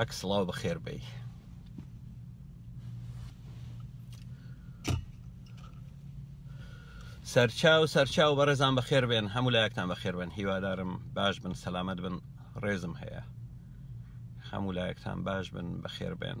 عەک سڵاو بەخێر بی سەرچاو سەرچاو بەڕێزان بەخێر بێن هەموو لایەکتان بەخێر بن هیوادارم باش بن سەلامەت بن ڕێزم هەیە هەموو لایەکتان باش بن بەخێر بێن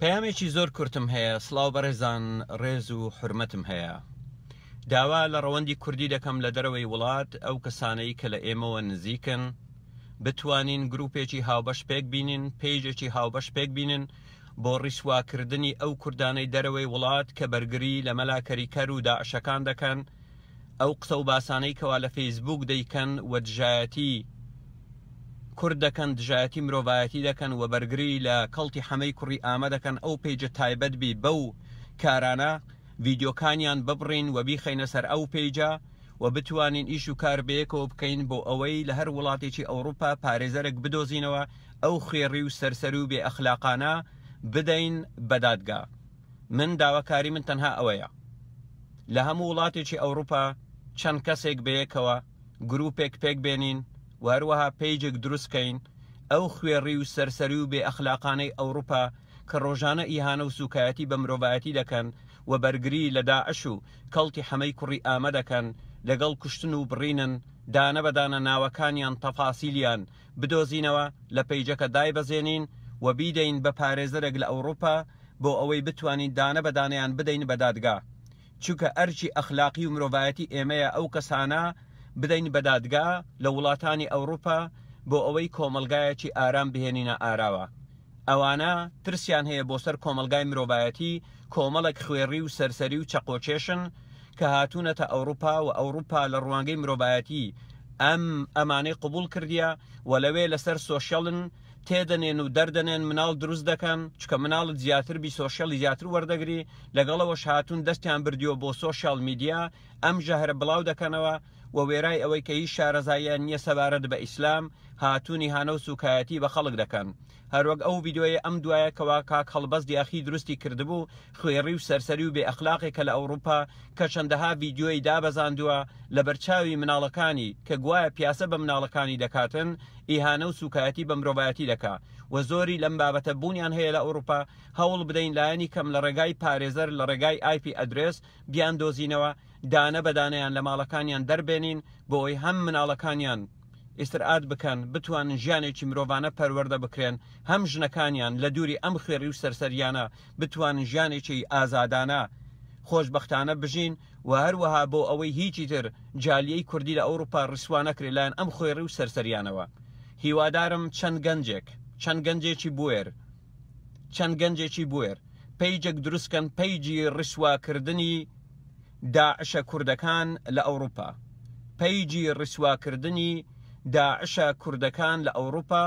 پەیامێکی زۆر کورتم هەیە سلااو بەڕێزان ڕێز و حرمەتم هەیە داوا لە ڕەوەندی کوردی دەکەم لە دەرەوەی وڵات ئەو کەسانەی کە لە ئێمەوە نزیکن بتوانین گروپێکی هاوبەش پێک بینین پێیجێکی هاوبەش پێک بینن بۆ ڕیسواکردنی ئەو کوردانەی دەرەوەی وڵات کە بەرگری لە مەلاکەریکەر و داعشەکان دەکەن ئەو قسە و باسانەی کەوا لە فەیسبووک دەیکەن و دژایەتی کورد دەکەن دژایەتی مرۆڤایەتی دەکەن و بەرگری لە کەڵتی حەمەی کوڕی ئامە دەکەن ئەو پیجە تایبەت بی بەو کارانە ڤیدیۆکانیان ببڕین و بیخەینە سەر ئەو پیجە و بتوانین ئیش و کار بەیەکەوە بکەین بۆ ئەوەی لە هەر وڵاتێکی ئەوروپا پارێزەرێک بدۆزینەوە ئەو خوێڕی و سەرسەر و بێ ئەخلاقانە بدەین بە دادگا. من داواکاری من تەنها ئەوەیە لە هەموو وڵاتێکی ئەوروپا چەند کەسێک بەیەکەوە گروپێک پێک بێنین و هەروەها پێیجێک دروستکەین ئەو خوێڕی و سەرسەری و بێ ئەخلاقانەی ئەوروپا کە ڕۆژانە ئیهانە و سوکایەتی بە مرۆڤایەتی دەکەن و بەرگری لە داعش و کەڵتی حەمەی کوڕی ئامە دەکەن لەگەڵ کوشتن و بڕینن دانە بەدانە ناوەکانیان تەفاسیلیان بدۆزینەوە لە پەیجەکە دایبەزێنین و بیدەین بە پارێزەرێک لە ئەوڕوپا بۆ ئەوەی بتوانین دانە بە دانەیان بدەین بە دادگا چونکە ئەرکی ئەخلاقی و مرۆڤایەتی ئێمەیە ئەو کەسانە بدەین بە دادگا لە وڵاتانی ئەوڕوپا بۆ ئەوەی کۆمەڵگایەکی ئارام بهێنینە ئاراوە. ئەوانە ترسیان هەیە بۆ سەر کۆمەڵگای مرۆڤایەتی، کۆمەڵێک خوێڕی و سەرسەری و چەقۆکێشن کە هاتوونەتە ئەوڕوپا و ئەوڕوپا لە ڕوانگەی مرۆڤایەتی ئەم ئەمانەی قبوڵ کردیە و لەوێ لەسەر سۆشیالن تێدەنێن و دەردەنێن مناڵ دروست دەکەن چکە مناڵت زیاتر بی سۆشیالی زیاتر وەردەگری لەگەڵەوەش هاتوون دەستیان بردیوە بۆ سۆشیال میدیا ئەم ژەهرە بڵاو دەکەنەوە و وێرای ئەوەی کە هیچ شارەزاییان نیە سەبارەت بە ئیسلام هاتونی هانە و سوکایەتی بە خەڵک دەکەن هەروەک ئەو ڤیدیۆیە ئەم دوایە کەوا کاک هەڵبەست یاخی دروستی کردبوو خوێڕی و سەرسەری و بێ ئەخلاقێ کە لە ئەوڕوپا کە چەندەها ڤیدیۆی دابەزاندوە لە بەرچاوی مناڵەکانی کە گوایە پیاسە بە مناڵەکانی دەکاتن ئیهانە و سوکایەتی بە مرۆڤایەتی دەکا و زۆری لەم بابەتە بونیان هەیە لە ئەوڕوپا هەوڵ بدەین لایەنی کەم لە ڕێگای پارێزەر لە ڕێگای ئایپی ئەدرێس بیاندۆزینەوە دانە بە دانەیان لە ماڵەکانیان دەربێنین بۆئەوەی هەم مناڵەکانیان ئیسترئات بکەن بتوانن ژیانێکی مرۆڤانە پەروەردە بکرێن هەم ژنەکانیان لە دووری ئەم خوێڕی و سەرسەریانە بتوانن ژیانێکی ئازادانە خۆشبەختانە بژین و هەروەها بۆ ئەوەی هیچی تر جالیەی کوردی لە ئەوروپا ڕیسوا نەکرێت لایەن ئەم خوێڕی و سەرسەریانەوە هیوادارم چەند گەنجێک چەند گەنجێکی بوێر چەند گەنجێکی بوێر پەیجێک دروست کەن پەیجی ڕیسواکردنی داعشە کوردەکان لە ئەوروپا پەیجی ڕیسواکردنی داعشە کوردەکان لە ئەوروپا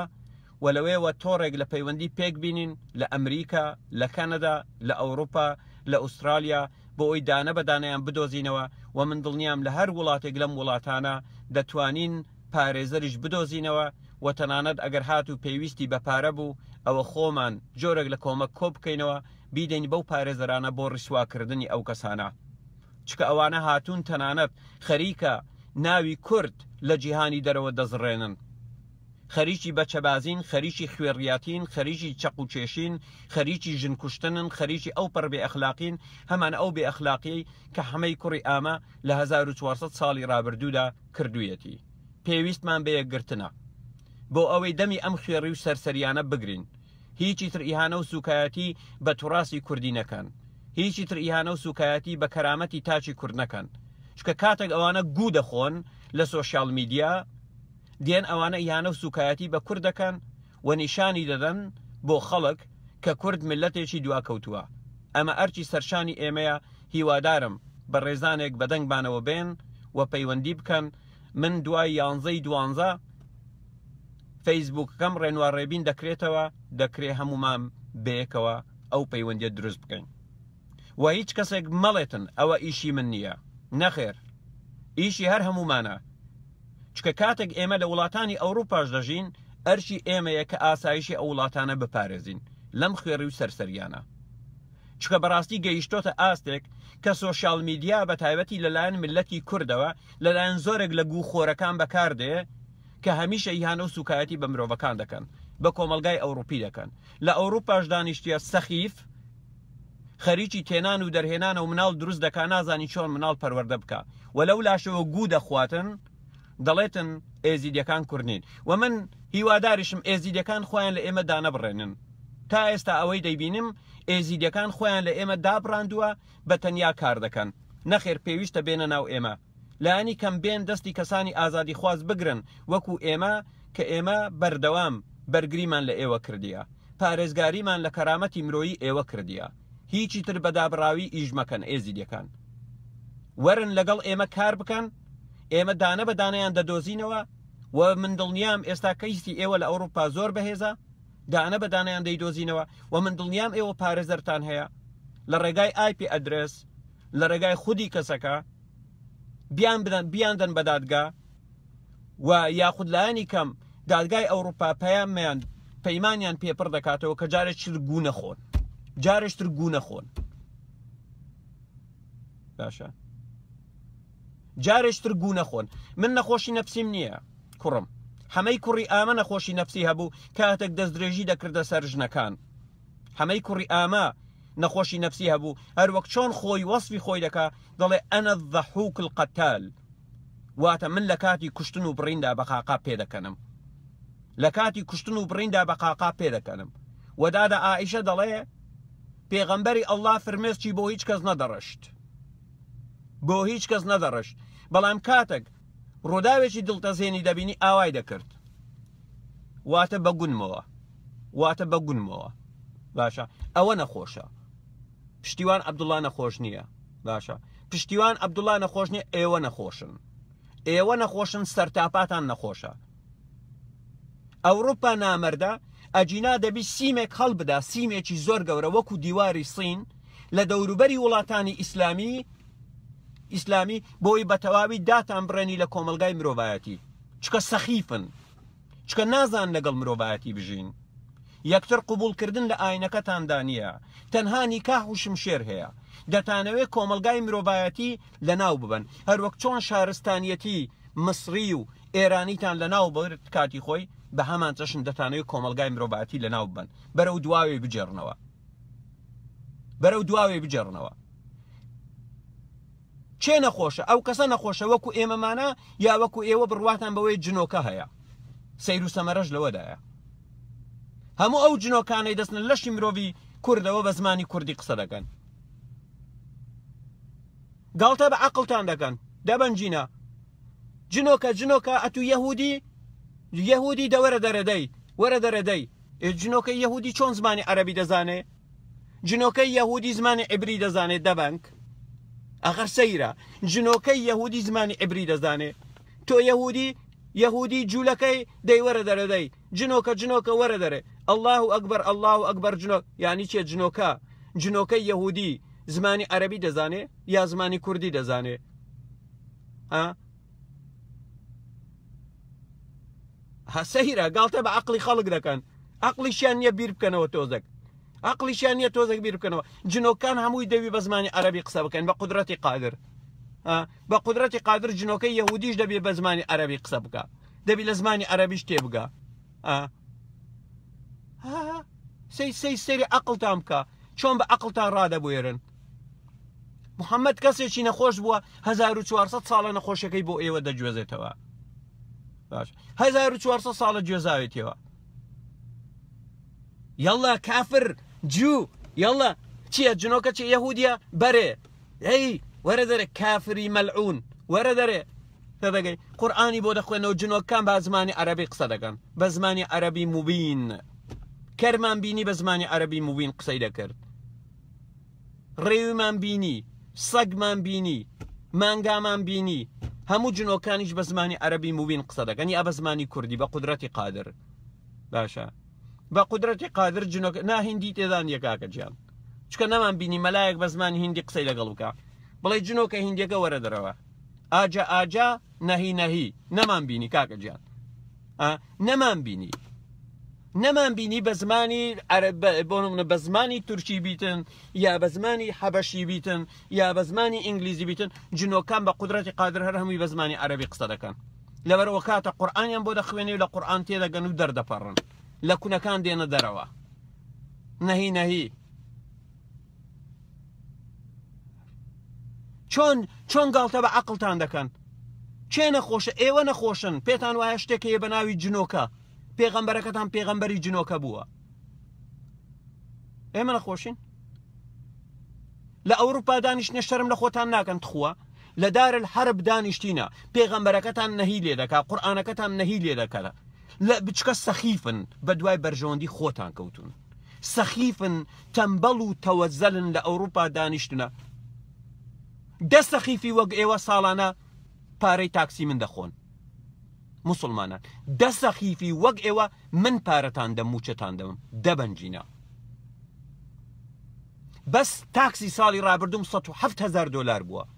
و لەوێوە تۆڕێک لە پەیوەندی پێک بینین لە ئەمریکا لە کەنەدا لە ئەوروپا لە ئوسترالیا بۆ ئەوی دانە بەدانیان بدۆزینەوە و من دڵنیام لە هەر وڵاتێک لەم وڵاتانە دەتوانین پارێزەریش بدۆزینەوە و تەنانەت ئەگەر هاتوو پێویستی بە پارە بوو ئەوە خۆمان جۆرێک لە کۆمەک کۆبکەینەوە بیدەین بەو پارێزەرانە بۆ ڕیسواکردنی ئەو کەسانە چکە ئەوانە هاتوون تەنانەت خەریکە ناوی کورد لە جیهانی دەرەوە دەزڕێنن خەریکی بەچەبازین خەریکی خوێڕیاتین خەریکی چەق و کێشین خەریکی ژن کوشتنن خەریکی ئەو پڕ بێ ئەخلاقین هەمان ئەو بێ ئەخلاقیەی کە حەمەی کوڕی ئامە لە 1400 ساڵی ڕابردوودا کردوویەتی، پێویستمان بە یەکگرتنە، بۆ ئەوەی دەمی ئەم خوێڕی و سەرسەریانە بگرین، هیچی تر ئیهانە و سووکایەتی بە توراسی کوردی نەکەن، هیچی تر ئیهانە و سووکایەتی بە کەرامەتی تاکی کورد نەکەن، چونکە کاتێک ئەوانە گوو دەخۆن لە سۆشیال میدیا، دێن ئەوانە ئیهانە و سووکایەتی بە کورد دەکەن و نیشانی دەدەن بۆ خەڵک کە کورد میللەتێکی دواکەوتووە ئەمە ئەرکی سەرشانی ئێمەیە هیوادارم بەڕێزانێک بەدەنگمانەوە بێن و پەیوەندی بکەن من دوای یانزەی دوانزە فەیسبوکەکەم ڕێنوا ڕێبین دەکرێتەوە دەکرێ هەموومان بەیەکەوە ئەو پەیوەندیە دروست بکەین و هیچ کەسێک مەڵێتن ئەوە ئیشی من نییە نەخێر ئیشی هەر هەموومانە چونکە کاتێک ئێمە لە وڵاتانی ئەوروپاش دەژین ئەرکی ئێمەیە کە ئاسایشی ئەو وڵاتانە بپارێزین لەم خوێڕی و سەرسەریانە چکە بەڕاستی گەیشتۆتە ئاستێک کە سۆشیال میدیا بە تایبەتی لەلایەن ملەتی کوردەوە لەلایەن زۆرێک لە گوو خۆرەکان بەکاردێ کە هەمیشە یانە و سوکایەتی بە مرۆڤەکان دەکەن بە کۆمەلگای ئەوروپی دەکەن لە ئەوروپاش دانیشتیە سەخیف خەریکی تێنان و دەرهێنانە و مناڵ دروست دەکا نازانی چۆن مناڵ پەروەردە بکا و لەو لاشەوە گوو دەخواتن دەڵێتن ئێزیدەکان کوردنین و من هیواداریشم ئێزیدەکان خۆیان لە ئێمە دانەبڕێنن تا ئێستا ئەوەی دەیبینم ئێزیدەکان خۆیان لە ئێمە دابڕاندووە بە تەنیا کار دەکەن. نەخێر پێویستە بێنە ناو ئێمە. لانی کەم بێن دەستی کەسانی ئازادیخواز بگرن وەکو ئێمە کە ئێمە بەردەوام بەرگریمان لە ئێوە کردیە. پارێزگاریمان لە کەرامەتی مرۆیی ئێوە کردیە. هیچی تر بە دابڕاوی ئیش مەکەن ئێزیدیەکان. وەرن لەگەڵ ئێمە کار بکەن، ئێمە دانە بە دانەیان دەدۆزینەوە و من دڵنیام ئێستا کەیسی ئێوە لە ئەوروپا زۆر بەهێزە. دانە بە دانەیان دەیدۆزینەوە و من دڵنیام ئێوە پارێزەرتان هەیە لە ڕێگای ئایپ ئەدرس لە ڕێگای خودی کەسەکە بیان بدەن بیاندن بە دادگا و یاخود لایەنی کەم دادگای ئەوروپا پەیامیان پەیمانیان پێپڕ دەکاتەوە کە جارێک چتر گوو نەخۆن جارێشتر گوو نەخۆن باشە جارێش تر گوو نەخۆن من نەخۆشی نەفسیم نییە کوڕم حەمەی کوڕی ئامە نەخۆشی نەفسی هەبوو کاتێک دەستدرێژی دەکردە سەر ژنەکان حەمەی کوڕی ئامە نەخۆشی نەفسی هەبوو هەروەک چۆن خۆی وەصفی خۆی دەکا دەڵێ ئەنە دەحوک القتال واتە من لە کاتی کوشتن و بڕیندا بەقاقا پێدەکەنم لە کاتی کوشتن و بڕیندا بەقاقا پێدەکەنم وەدادە ئائیشە دەڵێ پێغەمبەری ئەلله فرمێسکی بۆ هیچ کەس نەدەڕشت بۆ هیچ کەس نەدەڕشت بەڵام کاتەک ڕووداوێکی دڵتەزێنی دەبینی ئاوای دەکرد واتە بە گونمەوە واتە بە گونمەوە باشە ئەوە نەخۆشە پشتیوان عبدوڵا نەخۆش نییە باشە پشتیوان عبدوڵا نەخۆش نیە ئێوە نەخۆشن ئێوە نەخۆشن سەرتاپاتان نەخۆشە ئەوروپا نامەردە ئەگینا دەبی سیمێک هەڵبدا سیمێکی زۆر گەورە وەکو دیواری سین لە دەوروبەری وڵاتانی ئیسلامی ئیسلامی بۆی بە تەواوی داتان بڕێنی لە کۆمەلگای مرۆڤایەتی چکە سەخیفن چکە نازان لەگەڵ مرۆڤایەتی بژین یەکتر قوبولکردن لە ئاینەکەتاندا نییە تەنها نیکاح و شمشێر هەیە دەتانەوێ کۆمەلگای مرۆڤایەتی لە ناو ببن هەروەک چۆن شارستانیەتی مصری و ئێرانیتان لەناو برد کاتی خۆی بە هەمان چەشن دەتانەوەی کۆمەلگای مرۆڤاتی لەناو ببەن بەرەو دواوێ بجێڕنەوە بەرەو دواوێ بجێڕنەوە چێ نەخۆشە ئەو کەسە نەخۆشە وەکو ئێمەمانە یا وەکو ئێوە بڕواتان بەوەی جنۆکە هەیە سەیر و سەمەرەش لەوەدایە هەموو ئەو جنۆکانەی دەستن لەشی مرۆڤی کوردەوە بە زمانی کوردی قسە دەکەن گاڵتە بە عەقڵتان دەکەن دەبەن جینا جنۆکە جنۆکە ئەتو یەهودی یەهودی دەوەرە دەرەدەی وەرە دەرەدەی جنۆکە یەهودی چۆن زمانی عەربی دەزانێ جنۆکە یەهودی زمانی عبری دەزانێت دەبنگ ئەخر سەیرە جنۆکە یەهودی زمانی عبری دەزانێ تۆ یەهودی یەهودی جوولەکەی دەیوەرە دەرەدەی جنۆکە جنۆکە وەرە دەرێ اللە اکبر اللە اکبر جنۆ یانی چیە جنۆکە جنۆکە یەهودی زمانی عەربی دەزانێ یا زمانی کوردی دەزانێ ها هەسەیرە گاڵتە بە عقلی خەڵک دەکەن عقلیشیان نییە بیر بکەنەوە تۆزەک عقلیشیان نییە تۆزەک بیر بکەنەوە جنۆکان هەمووی دەوی بە زمانی عەربی قسە بکەن بە قدرەتی قادر بە قدرەتی قادر جنۆکە یهودیش دەبێ بە زمانی عەربی قسە بکە دەبی لە زمانی عەرەبیش تێبگا سەی سەی سەری عقلتان بکە چۆن بە عقلتان ڕادەبێرن محەممەد کەسێکی نەخۆش بووە 1400 ساڵە نەخۆشەکەی بۆ ئێوە دەگوێزێتەوە باش 1400 ساڵە گوێزاوێتەوە یاڵە کافر جو یاڵە چییە جنۆکە چی یەهودیە بەرێ ئەی وەرە دەرێ کافری مەلعون وەرە دەرێ تێدەگەی قورآانی بۆ دەخوێنەوە جنۆکان با زمانی عەربی قسە دەکەن بە زمانی عەربی مبین کەرمان بینی بە زمانی عەربی مبین قسەی دەکرد ڕێویمان بینی سەگمان بینی مانگامان بینی هەموو جنۆکانیش بە زمانی عەربی مبین قسە دەکەن یا بە زمانی کوردی بە قدرەتی قادر باشە بە قدرەتی قادر جنۆک ناهندی تێدان یەکاکە جیان چکە نەمان بینی مەلایەک بە زمانی هندی قسەی لەگەڵ بکە بڵێ جنۆکە هندیەکە وەرە دەرەوە ئاجە ئاجە نەهی نەهی نەمان بینی کاکە گیان نەمان بینی نەمان بینی بە زمانی بۆ منە بە زمانی تورکی بیتن یا بە زمانی حەبەشی بیتن یا بە زمانی ئینگلیزی بیتن جنۆکان بە قدرەتی قادر هەر هەمووی بە زمانی عەربی قسە دەکەن لەبەرەوە کاتە قورآانیان بۆ دەخوێنێ لە قورآان تێدەگەن و دەردەپەڕن لە کونەکان دێنە دەرەوە نەهی نەهی چۆن چۆن گاڵتە بە عقلتان دەکەن چێ نەخۆشە ئێوە نەخۆشن پێتان وایە شتێک هەیە بە ناوی جنۆکە پێغەمبەرەکەتان پێغەمبەری جنۆکە بووە ئێمە نەخۆشین لە ئەوروپا دانیشتە شەرم لە خۆتان ناکەن تخوا لە دار الحرب دانیشتینە پێغەمبەرەکەتان نەهی لێ دەکا قورآانەکەتان نەهی لێ دەکەە لە بچکە سەخیفن بە دوای بەرژەوەندی خۆتان کەوتون سەخیفن تەمبەڵ و تەوەزەلن لە ئەوروپا دانیشتنە دە سەخیفی وەک ئێوە ساڵانە پارەی تاکسی من دەخۆن مسلمانان دە سەخیفی وەک ئێوە من پارەتان دەم موچەتان دەم دەبەنجینە بەس تاکسی ساڵی ڕابردوم 1970 هزار دلار بووە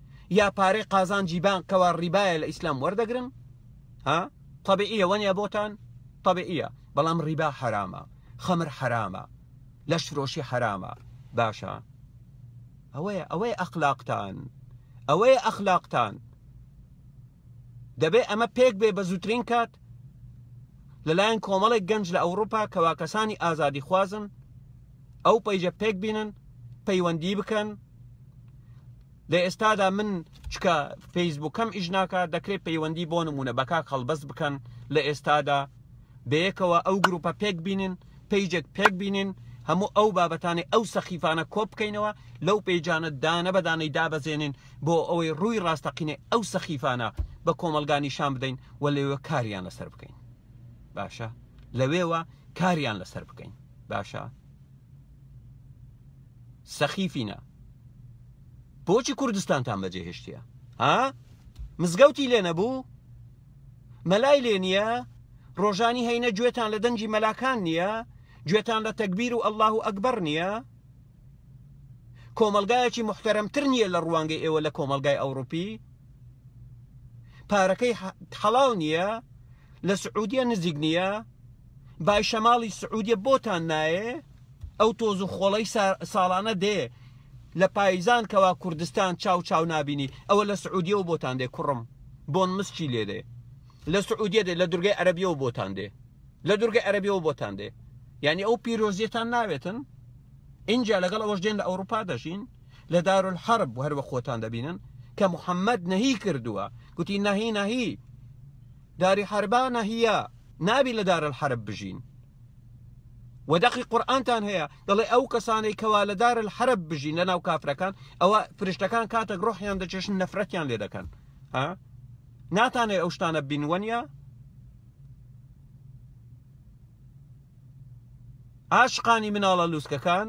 یا پارەی قازانجی بانک کەوا ڕیبایە لە ئیسلام وەردەگرن ها طبیعیە وەنیە بۆتان طبیعیە بەڵام ڕیبا حرامە خەمر حرامە لەش فرۆشی حرامە باشە ئەوەیە ئەوەی ئەخلاقتان ئەوەیە ئەخلاقتان دەبێ ئەمە پێک بێ بە زووترین کات لەلایەن کۆمەڵێک گەنج لە ئەوروپا کەوا کەسانی ئازادی خوازن ئەو پەیجە پێک بینن پەیوەندی بکەن لە ئێستادا من چکە فەیسبووکەم ئیش ناکە دەکرێت پەیوەندی بۆ نمونە بە کاک هەڵبەست بکەن لە ئێستادا بەیەکەوە ئەو گروپە پێک بینن پەیجێک پێک بینن هەموو ئەو بابەتانی ئەو سەخیفانە کۆ بکەینەوە لەو پێیجانە دانە بەدانەی دابەزێنین بۆ ئەوەی ڕووی ڕاستەقینە ئەو سەخیفانە بە کۆمەلگا نیشان بدەین و لەوێ کاریان لەسەر بکەین باشە لەوێوە کاریان لەسەر بکەین باشە سەخیفینە بۆچی کوردستانتان بەجێ هێشتە ها مزگەوتی لێ نەبوو مەلای لێ نییە ڕۆژانی هەینە گوێتان لە دەنگی مەلاکان نییە گوێتان لە تەکبیر و ئەلله و ئەکبەر نییە کۆمەلگایەکی محتەرمتر نییە لە ڕوانگەی ئێوە لە کۆمەلگای ئەوروپی پارەکەی حەڵاو نییە لە سعودیە نزیک نییە بای شەماڵی سعودیە بۆتان نایێ ئەو تۆز و خۆڵەی ساڵانە دێ لە پایزان کەوا کوردستان چاو چاو نابینی ئەوە لە سعودیەوە بۆتان دێ کوڕم بۆن مسچی لێ دێ لە سعودیە دێ لە دورگەی عەربیەوە بۆتان دێ لە دورگەی عەربیەوە بۆتان دێ یعنی ئەو پیرۆزیەتان ناوێتن اینجا لەگەڵ ئەوەش دێن لە ئەوروپا دەژین لە دارولحرب هەر بە خۆتان دەبینن کە محەممەد نەهی کردووە گوتی نەهی نەهی داری حربانە هیە نابی لە دار الحرب بژین و دەقی قورآانتان هەیە دەڵێ ئەو کەسانەی کەوا لە دار الحرب بژین لە ناو کافرەکان ئەوە فرشتەکان کاتێک ڕۆحیان دەچێشن نەفرەتیان لێ دەکەن ها ناتانێ ئەو شتانە بینوەنە عاشقانی مناڵە لوسکەکان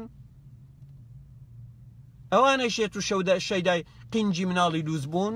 ئەوانە شێت و شەودە شەیدای قینجی مناڵی لووس بوون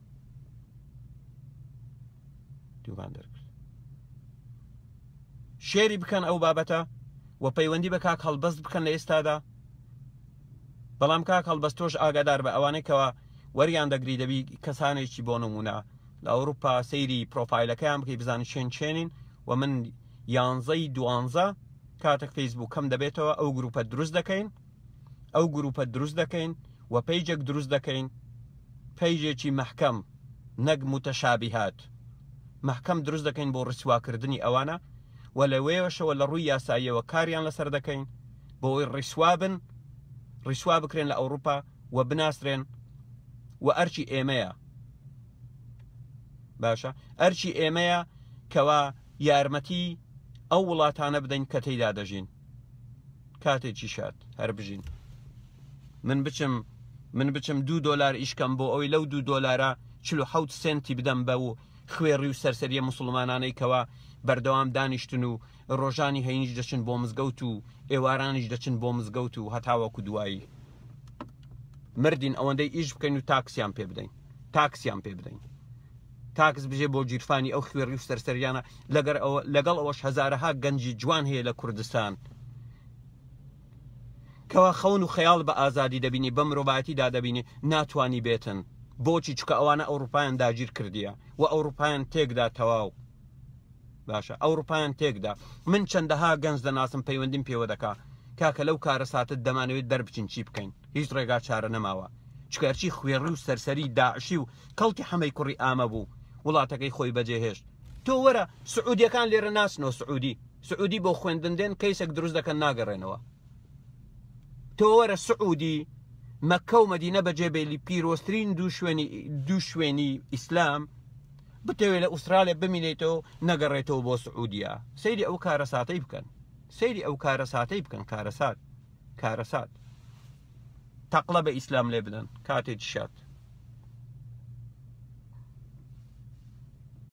دووبان دەرکرد شێری بکەن ئەو بابەتە و پەیوەندی بە کاک هەڵبەست بکەن لە ئێستادا بەڵام کاک هەڵبەست تۆش ئاگادار بە ئەوانەی کەەوە وەریان دەگری دەبی کەسانێکی بۆ نمونە لە ئەوروپا سەیری پرۆفایلەکەیان بکەی بزانانی چێن چێنین و من یانزەی دوانزە کاتێک فەیسبوو کەم دەبێتەوە ئەو گروپە دروست دەکەین ئەو گروپە دروست دەکەین و پەیجێک دروست دەکەین پەیجێکی مەحکەم نەک متەشابیهات مەحکەم دروست دەکەین بۆ ڕیسواکردنی ئەوانە و لەوەیەشەوە لە ڕووی یاساییەوە کاریان لەسەر دەکەین بۆ ئەوی ڕیسوابن ڕیسوا بکرێن لە ئەوروپا و بناسرێن و ئەرچی ئێمەیە باشە ئەرچی ئێمەیە کەوا یارمەتی ئەو وڵاتانە بدەین کە تێدا دەژین کاتێکی شاد هەر بژین من بچم من بچم دو دلار ئیشکەم بۆ ئەوی لەو دو دلارە چ حوت سنتی بدەم بە و خوێڕی و سەرسەریە مسلمانانەی کەوا بەردەوام دانیشتن و ڕۆژانی هەینیش دەچن بۆ مزگەوت و ئێوارانیش دەچن بۆ مزگەوت و هەتاوەکو دوایی مردین ئەوەندەی ئیش بکەین و تاکسیان پێ بدەین تاکسیان پێ بدەین تاکس بژێ بۆ گیرفانی ئەو خوێڕی و سەرسەریانە لەگەر ئەوە لەگەڵ ئەوەش هەزارەها گەنجی جوان هەیە لە کوردستان کەوا خەون و خەیاڵ بە ئازادی دەبینی بە مرۆڤایەتی دادەبینی ناتوانی بێتن بۆچی چکە ئەوانە ئەوروپایان داگیر کردیە و ئەوروپایان تێکدا تەواو باشە ئەوروپایان تێکدا من چەندەها گەنج دەناسم پەیوەندیم پێوە دەکا کاکە لەو کارە ساتت دەمانەوێت دەربچین چی بکەین هیچ ڕێگا چارە نەماوە چکارچی خوێڕی و سەرسەری داعشی و کەڵکی حەمەی کوڕی ئامە بوو وڵاتەکەی خۆی بەجێهێشت تۆ وەرە سعودیەکان لێرە ناسنەوە سعودی سعودی بۆ خوێندن دێن کەیسێک دروست دەکەن ناگەڕێنەوە تۆ وەرە سعودی مەکە و مەدینە بەجێبێلی پیرۆسترین دوو شوێنی دوو شوێنی ئیسلام بتەوێت لە ئوسترالیا بمینێتەوە نەگەڕێتەوە بۆ سعودیا سەیری ئەو کارە ساتەی بکەن سەیری ئەو کارە ساتەی بکەن کارەسات کارەسات تەقلە بە ئیسلام لێ بدەن کاتێ شات